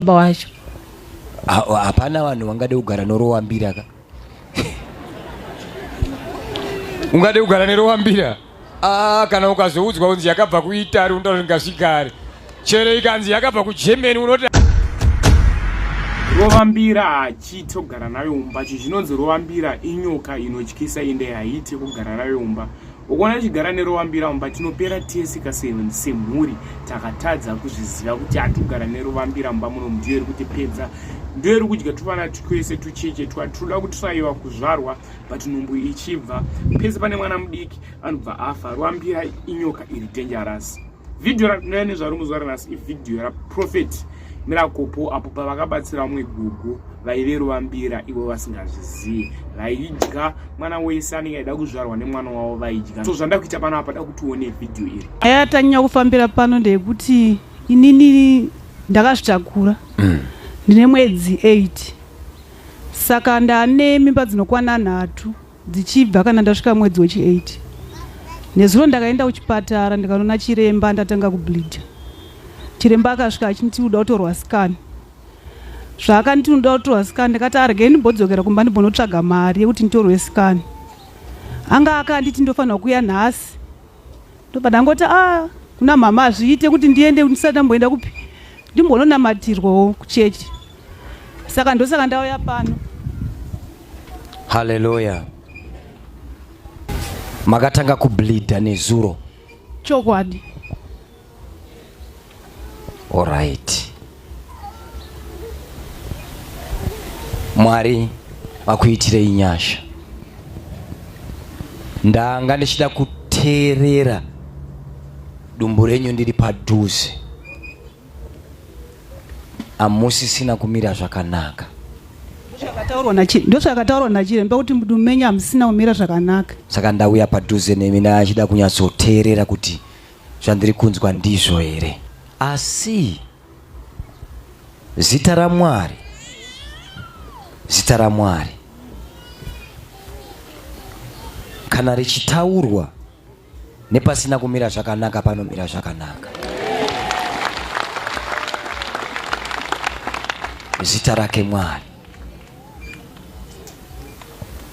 baba wacho hapana vanhu vangade kugara norowa mbira ka ungade kugara nerowa mbira ah, kana ukazoudzwa kunzi yakabva kuitari unotaura kuti ngasigare chero ikanzi yakabva kugermany unoti rovambira hachiite kugara nayo mumba chi zvinonzi rovambira inyoka inotyisa ende haiite kugara nayo mumba ukuona tichigara neruvambira mumba tinopera tese kaseni semhuri takatadza kuzviziva kuti hatigara neruvambira mumba muno ndiyo iri kuti pedza ndiyo iri kudya tuvana twese tucheche twa tinoda kuti twaiva kuzvarwa but nhumbu ichibva pese pane mwana mudiki anobva afa ruvambira inyoka iri dangerous Video ratinouya nezvaro muzuva ranhasi ividhiyo raprofeti mirakopo apo pavakabatsira vamwe gugu vaive ruvambira ivo vasingazvizivi vaidya mwana wese anenge aida kuzvarwa nemwana wavo vaidya so zvanda kuita pano apa da kuti uone vhidhiyo iri nyaya yatanyanya kufambira pano ndeyekuti inini ndakazvitakura mm. ndine mwedzi 8 saka ndane mimba dzinokwana nhatu dzichibva kana ndasvika mwedzi wechi 8 nezuro ndakaenda kuchipatara ndikanoona chiremba ndatanga kubleeda chiremba akasvika achinti uda kutorwa scan zvaakanditi unoda kutorwa scan ndikati argei ndimbodzokera kumba ndimbonotsvaga mari yekuti nditorwe scan anga akanditi ndofanirwa kuya nhasi ndobva ndangoti a ah, kuna mhama hazviite kuti ndiende ndisati ndamboenda kupi ndimbononamatirwawo kuchechi saka ndosaka ndauya pano haleluya makatanga kubleeda nezuro chokwadi Alright. Mwari vakuitirei nyasha. Ndanga ndichida kuteerera dumbu renyu ndiri padhuze. Amusisina kumira zvakanaka. Ndozvakataurwa nachiremba kuti mudumbu menyu hamusina kumira zvakanaka. Saka ndauya padhuze nemi ndachida kunyatsoteerera kuti zvandiri kunzwa ndizvo here asi zita ramwari zita ramwari kana richitaurwa nepasina kumira zvakanaka panomira zvakanaka zita rake mwari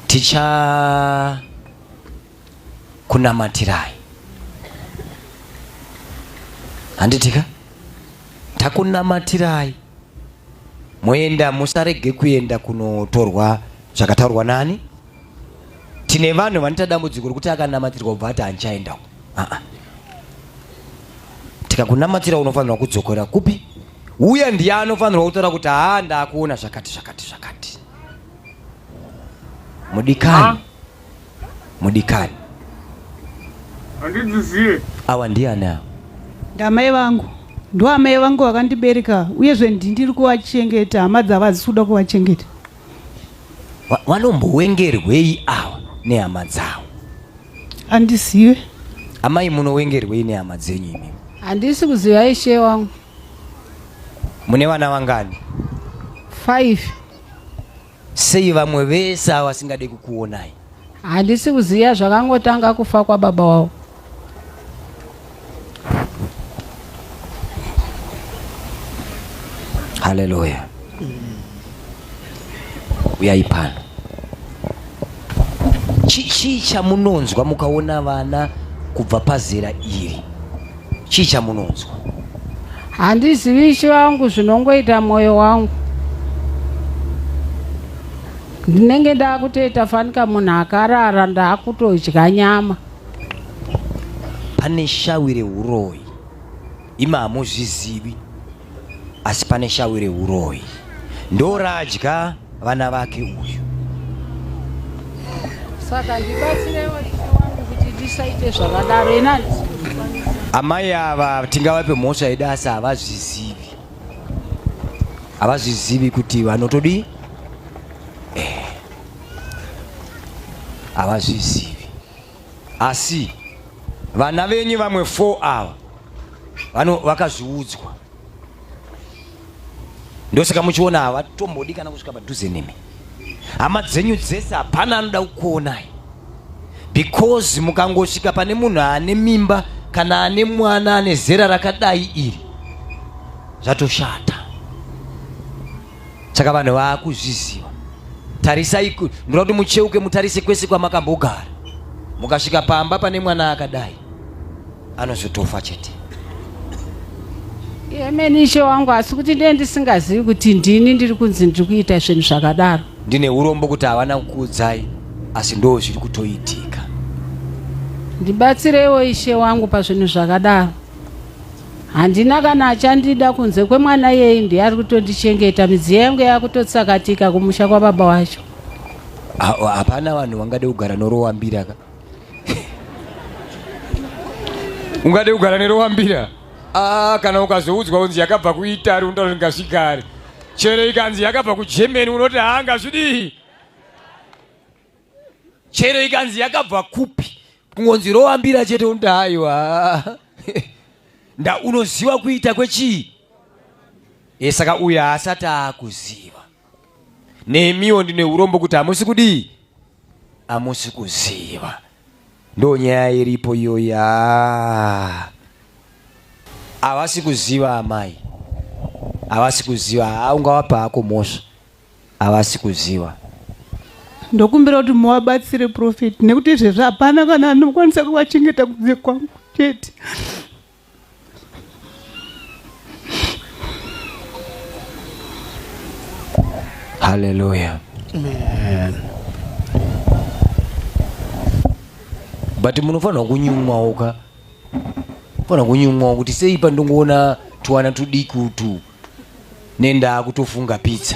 ticha kunamatirai handitika takunamatirai moenda musarege kuenda kunotorwa zvakataurwa nani tine vanhu vanoita dambudziko rekuti akanamatirwa kubva ati handichaendawo aa tikakunamatira unofanirwa kudzokera kupi uye ndiye anofanirwa kutaura kuti haa ndakuona zvakati zvakati zvakati mudikani ah. mudikani handidziziye awa ndiani awa ndamai vangu ndo amai vangu vakandibereka uyezve ndindiri kuvachengeta hama dzavo hadzisi kuda kuvachengeta Wa- wanombowengerwei awa nehama dzawo handizive amai munowengerwei nehama dzenyu imi handisi kuziva ishe wangu mune vana vangani five Sei vamwe vese ava vasingade kukuonai? Handisi kuziva zvakangotanga kufa kwababa wavo. Haleluya. Uyai pano. Chii chamunonzwa mukaona vana kubva pazera iri? chii chamunonzwa handizivi ishe vangu zvinongoita mwoyo wangu ndinenge ndaakutoita fanika munhu akarara ndaakutodya nyama pane shawi reuroyi ima hamuzvizivi asi pane shawi rehuroyi ndoradya vana vake uyu saka ndibatsirewo kuti ndisaite zvakadaro ina amai ava tingavape mhosva yedu asi havazvizivi havazvizivi kuti vanotodii eh. havazvizivi Asi vana venyu vamwe 4 ava vano vakazviudzwa, ndosaka muchiona havatombodi kana kusvika padhuze nemi. Hama dzenyu dzese hapana anoda kukuonai because mukangosvika pane munhu ane mimba kana ane mwana ane zera rakadai iri zvatoshata. saka vanhu vaakuzviziva tarisai ndinoda kuti mucheuke mutarise kwese kwamakambogara mukasvika pamba pane mwana akadai anozotofa chete yemene ishe wangu asi kuti ndiye ndisingazivi kuti ndini ndiri kunzi ndiri kuita zvinhu zvakadaro ndine urombo kuti havana kukuudzai asi ndoo zviri kutoitika ndibatsireiwo ishe wangu pazvinhu zvakadaro Handina kana achandida kunze kwemwana iyeye ndiye ari kutondichengeta midziyo yangu yakutotsakatika kumusha kwababa wacho. Hapana vanhu vangade kugara norowambira ka. Ungade kugara nerowambira? Ah, kana ukazoudzwa kunzi yakabva kuItari unotaura kuti ngazvigare. Chero ikanzi yakabva kuGermany unoti hanga zvidii? chero ikanzi yakabva kupi kungonzi roambira chete unoda haiwa nda unoziva kuita kwechii e saka uyo haasati aakuziva nemiwo ndine urombo kuti hamusi kudii hamusi kuziva ndo nyaya iripo iyoya havasi kuziva amai havasi kuziva haungawapa hako mhosva Havasi kuziva. Ndokumbira kuti muvabatsire prophet nekuti izvezvi hapana kana anokwanisa kuvachengeta kunze kwangu chete. Hallelujah. Amen. But munofanirwa kunyumwawo ka fana kunyumwa kuti sei pandongoona twana tudiki utu nendaa kutofunga pizza